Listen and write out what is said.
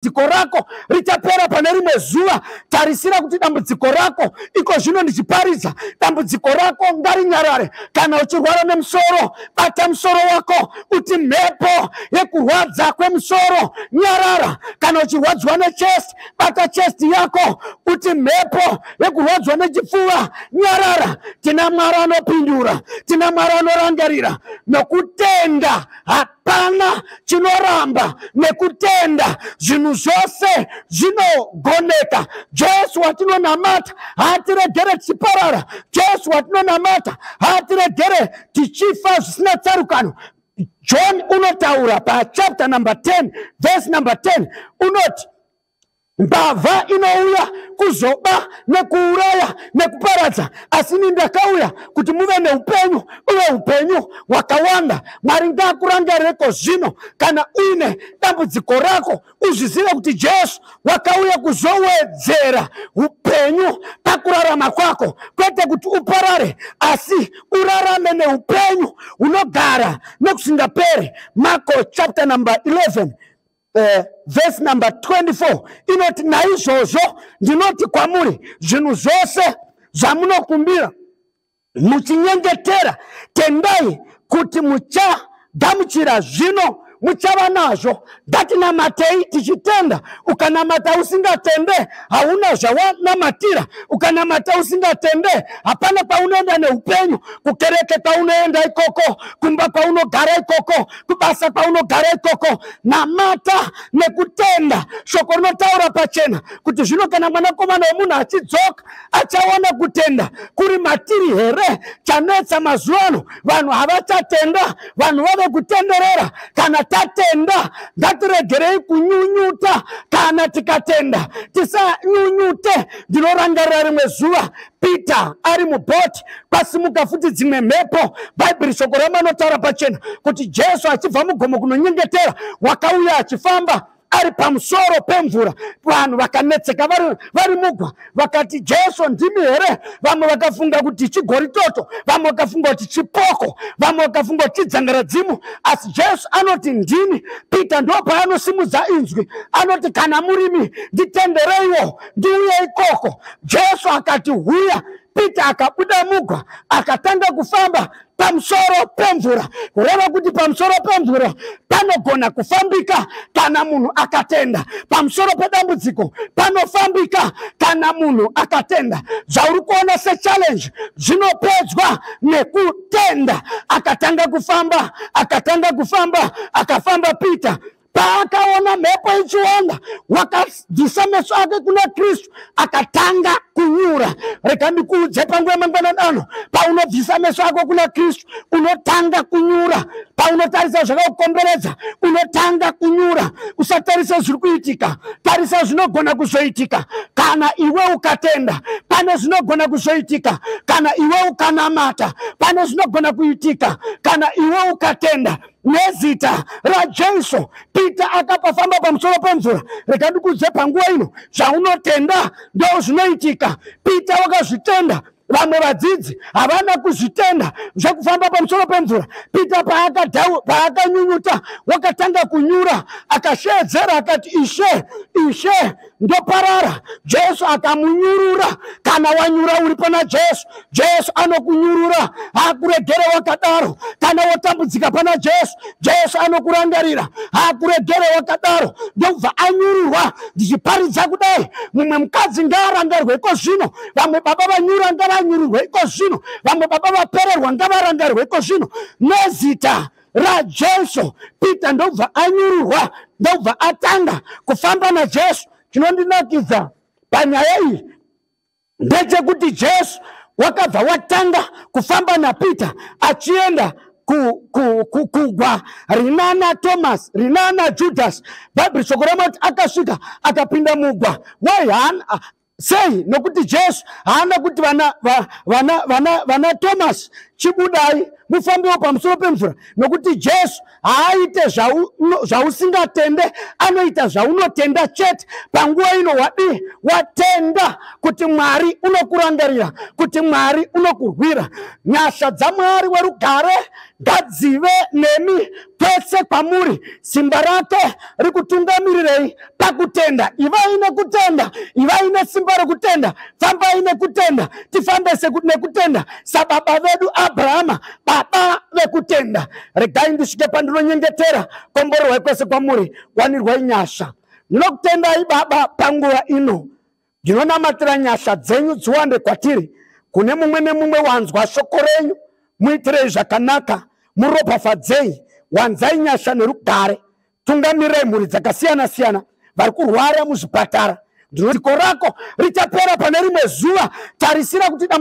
dambudziko rako richapera pane rimwe zuva tarisira kuti dambudziko rako iko zvino ndichiparidza dambudziko rako ngarinyarare kana uchirwara nemusoro bata musoro wako uti mhepo yekurwadza kwemusoro nyarara kana uchirwadziwa nechest bata chest yako uti mhepo yekurwadziwa nechipfuva nyarara tina mwari anopindura tina mwari anorangarira nokutenda hati Hapana chinoramba nekutenda, zvinhu zvose zvinogoneka. Jesu watinonamata haatiregere tichiparara, Jesu watinonamata haatiregere tichifa zvisina tsarukano. John unotaura pachapter number 10 verse number 10 unoti mbavha inouya kuzoba nekuuraya nekuparadza asi ini ndakauya kuti muve neupenyu uye upenyu hwakawanda mwari ngaakurangarireko zvino kana uine dambudziko rako uzvizive kuti jesu wakauya kuzowedzera upenyu pakurarama kwako kwete kuti uparare asi urarame neupenyu hunogara nekusingaperi marko chapter number 11 eh, vhesi number 24 inoti naizvozvo ndinoti kwamuri zvinhu zvose zvamunokumbira muchinyengetera tendai kuti muchagamuchira zvino muchava nazvo ndatinamatei tichitenda ukanamata usingatende hauna zvawanamatira ukanamata usingatende hapana kwaunoenda neupenyu kukereke kwaunoenda ikoko kumba kwaunogara ikoko kubasa kwaunogara ikoko namata nekutenda shoko rinotaura pachena kuti zvino kana mwanakomana wemunhu achidzoka achaona kutenda kuri matiri here chanetsa mazuva ano vanhu havachatenda vanhu vave kutenderera kana tatenda ngatiregerei kunyunyuta kana tikatenda tisanyunyute ndinorangarira rimwe zuva peter ari mubhoti kwasimuka futi dzimwe mhepo bhaibheri shoko rama anotaura pachena kuti jesu achibva mugomo kunonyengetera wakauya achifamba ari pamusoro pemvura vanhu vakanetseka vari, vari mugwa vakati jesu ndimi here vamwe vakafunga kuti chigori toto vamwe vakafunga kuti chipoko vamwe vakafunga kuti chidzangaradzimu asi jesu anoti ndini peter ndo paanosimudza inzwi anoti kana murimi nditendereiwo ndiuye ikoko jesu akati huya pita akabuda mugwa akatanga kufamba pamusoro pemvura kureva kuti pamusoro pemvura panogona kufambika kana munhu akatenda pamusoro pedambudziko panofambika kana munhu akatenda zvauri kuona sechallenge zvinopedzwa nekutenda akatanga kufamba akatanga kufamba akafamba peter paakaona mhepo ichiwanda wakadzisa meso ake kuna kristu akatanga kunyura rega ndikuudze panguva yemangwanani ano paunobvisa meso ako kuna kristu unotanga kunyura paunotarisa zvakakukomberedza unotanga kunyura usatarisa zviri kuitika tarisa zvinogona kuzoitika kana iwe ukatenda pane zvinogona kuzoitika kana iwe ukanamata pane zvinogona kuitika kana iwe ukatenda nezita rajesu pita akapafamba pamusoro pemvura rega ndikudze panguva ino zvaunotenda ndo zvinoitika pita wakazvitenda vamwe vadzidzi havana kuzvitenda zvekufamba pamusoro pemvura pita paakanyunyuta wakatanga kunyura akasheedzera akati ishe ishe ndoparara jesu akamunyurura kana wanyura uri pana jesu jesu anokunyurura hakuregere wakadaro kana wotambudzika pana jesu jesu anokurangarira hakuregere wakadaro ndokubva anyururwa ndichiparidza kudai mumwe mukadzi ngaarangarwe iko zvino vamwe baba vanyura ngavanyururwe iko zvino vamwe baba vapererwa ngavarangarwe iko zvino nezita rajesu peter ndobva anyurwa ndobva atanga kufamba najesu chinondinakidza panyaya iyi ndechekuti jesu wakabva watanga kufamba napeter achienda kugwa rinana thomas rinana judas bhaibheri shoko ramati akasvika akapinda mugwa why sei nokuti jesu haana kuti vana, vana, vana, vana thomas chibudai mufambiwo pamusoro pemvura nokuti jesu haaite zvausingatende zvahu, anoita zvaunotenda chete panguva ino wadii watenda kuti mwari unokurangarira kuti mwari unokurwira nyasha dzamwari werugare ngadzive nemi kwese kwamuri simba rake rikutungamirirei pakutenda ivai nekutenda ivai nesimba rekutenda fambai nekutenda tifambe seku- nekutenda sababa vedu abrahama baba vekutenda regai ndisvike pandinonyengetera komborerwai kwese kwamuri wanirwai nyasha ndinokutendai baba panguva ino Ndinonamatira nyasha dzenyu dziwande kwatiri, kune mumwe nemumwe wanzwa shoko renyu, muitirei zvakanaka, muropafadzei, wanzai nyasha nerugare, tungamirai mhuri dzakasiyana siyana vari kurwara muzvipatara. Ndinoti ziko rako richapera pane rimwe zuva, tarisira kuti